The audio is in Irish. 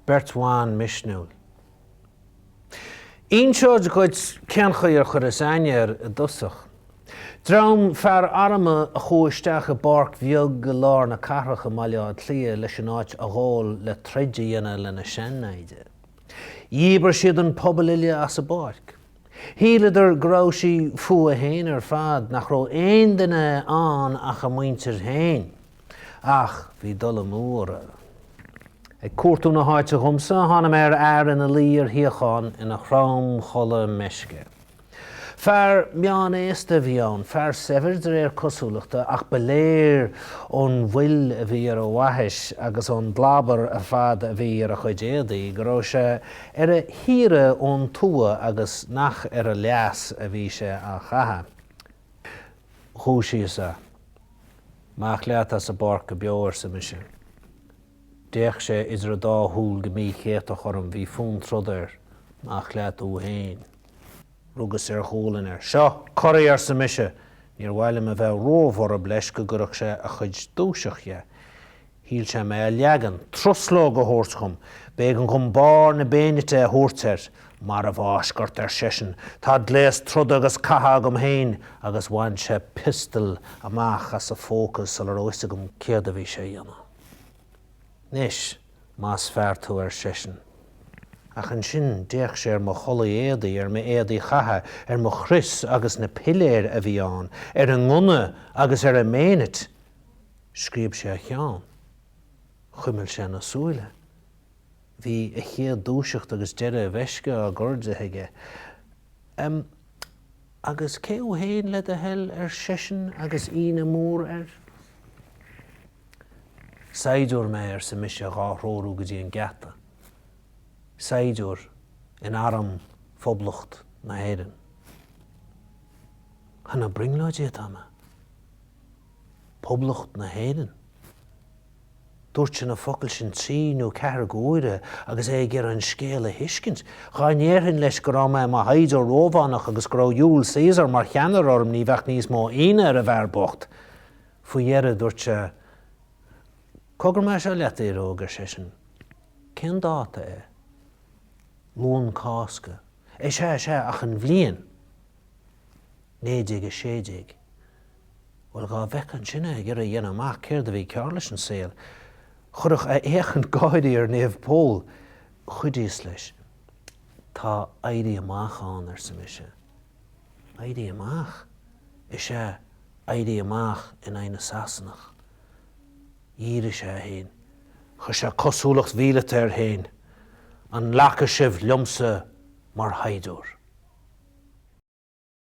Beirt bhan misniúil. Inseod dhuit cén chaoi ar chuireas aithne air i dtosach. Dream fear armtha a chuaigh isteach i bpáirc bheag i lár na cathrach i mBaile Átha Cliath leis an áit a ghabháil le troid a dhéanamh lena sean-naimhde. Dhíbir siad an pobal uile as an bpáirc. Shíleadar go raibh sí fúthu fhéin ar fad, nach raibh aon duine ann ach a muintir fhéin. Ach bhí dul amú orra. Ag cuartú na háite dhomsa, tháinig mé ar fhear ina luí ar shuíochán ina thromchodladh meisce. Fear meán-aosta a bhí ann, fear saibhir de réir cosúlachta, ach ba léir ón bhfuil a bhí ar a bhaithis agus ón gclábar ar fad a bhí ar a chuid éadaí go raibh sé ar a shaoire ón tuath agus nach ar a leas a bhí sé á chaitheamh. Dhúisíos é. Amach leat as an bpáirc go beo, arsa mise. D'fhéach sé idir an dá shúil go míchéatach orm, bhí fonn troda air, amach leat thú fhéin. Rugas ar ghualainn air. Seo, corraigh, arsa mise. Níor mhaith liom a bheith ró-bhorb leis go gcuirfeadh sé a chuid dúiseacht dhe. Shíl sé mé a leagan, truslóg a thabhairt dhom. B'éigean dhom barr na beaignite a thabhairt air. Marbhfháisc ort, ar seisean, tá gléas troda agus catha agam féin, agus bhain sé piostal amach as a phóca sula raibh fhios agam céard a bhí sé a dhéanamh. Anois más fear tú ar seisean. Ach ansin d'fhéach sé ar mo chulaith éadaigh, ar m'éadaí chatha, ar mo chrios agus na piléir a bhí ann, ar an ngunna agus ar an mbeaignit. Scríob sé a cheann. Chuimil sé na súile. Bhí a chéad dúiseacht agus deireadh a mheisce á gcur de aige. Agus cé thú fhéin le do thoil ar seisean agus ionadh mór air. Saighdiúir mé arsa mise dhá threorú go dtí an geata. Saighdiúir in arm Phoblacht na hÉireann. An ag brionglóidí atá mé. Poblacht na hÉireann. Dúirt sé na focail sin trí nó ceathair de uaire agus é ag iarraidh an scéal a thuiscint. Dhá ndéarfainn leis go raibh mé i mo shaighdiúir Rómhánach agus go raibh Iúl Caesar mar cheannaire orm ní bheadh níos mó ionadh ar an bhfear bocht. Faoi dheireadh dúirt sé, Cogar mé seo leat, a fhir óg, ar seisean. Cén dáta é? Luan Cásca. Is ea, is ea, ach an bhliain. 1916. Bhuel dhá mbeifeá ansin ag iarraidh a dhéanamh amach céard a bhí cearr leis an saol, chuirfeadh a fhéachaint gáirí ar Naomh Pól. Chuidíos leis. Tá Éirí Amach ann, arsa mise. Éirí Amach? Is ea, Éirí Amach in aghaidh na Sasanach. Dhírigh sé é féin. Chuir sé cosúlacht mhíleata air féin. An nglacfaidh sibh liomsa mar shaighdiúir?